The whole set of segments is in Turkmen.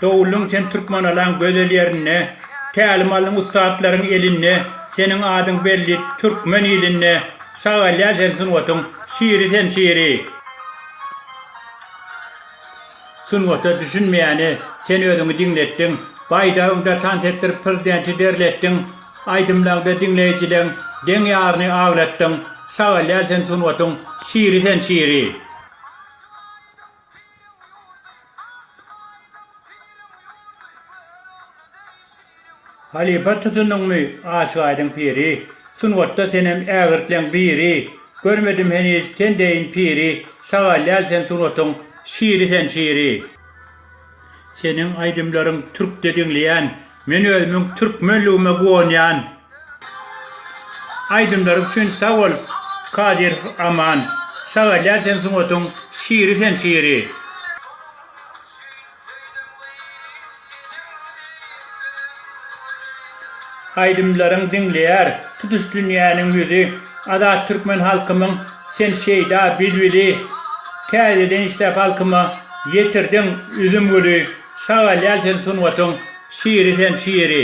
Doguldyň sen Türkmanalaň gözel ýerinde, Tälim aldyň ussatlaryň elinde, Seniň adyň belli türkmen ilinde, Sagalýar sen sungatyň şiri sen şiri. Sungata düşünmeýäne sen özüňi diňletdiň, Baýdagyňda tans etdirip prezidenti derletdiň, Aýdymlaňda diňleýjileň deň ýaryny aglatdyň, Sagalýar sen sungatyň şiri sen şiri. Piriň ýurdy, agşam aýdyň, piriň ýurdy, Görogly deý şiriň ýurdy. Halypa tutundyňmy, aşyk aýdyň piri, Sungatda senem ägirtleň biri, Görmedim heniz sen deýin piri, Şagalýal sen sungatyň şiri sen şiri. Seniň aýdymlaryň türkçe diňleýän men özümiň türkmenligime guwanýan. Aýdymlaryň üçin sag bol Kadyrow Aman. Şagalýar sen sungatyň şiri sen şiri. Aýdymlaryň diňleýär tutuş dünýäniň ýüzi Azat türkmen halkymyň sen şeýda bilbili Täzeden işläp halkyma ýetirdiň üzüm güli Şagalýar sen sungatyň şiri sen şiri.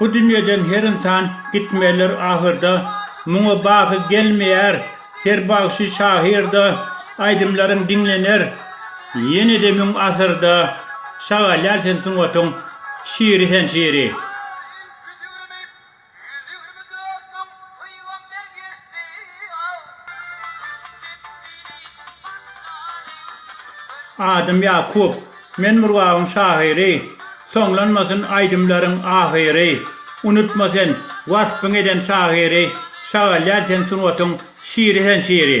Bu dünýeden her ynsan gitmelidir ahyrda, Muňa baky gelmeýär her bagşy şahyrda, Aýdymlaryň diňlener ýene-de müň asyrda, Şagalýar sen sungatyň şiri sen şiri. Ýüz ýigrimi dört müň pygamber geçdi aw. Düşüp gitdini başlaryň başyna. Adym Ýakup, men Murgabyň şahyry, Soňlanmasyn aýdymlaryň ahyry, Unutma sen waspyň eden şahyry, Şagalýar sen sungatyň şiri sen şiri.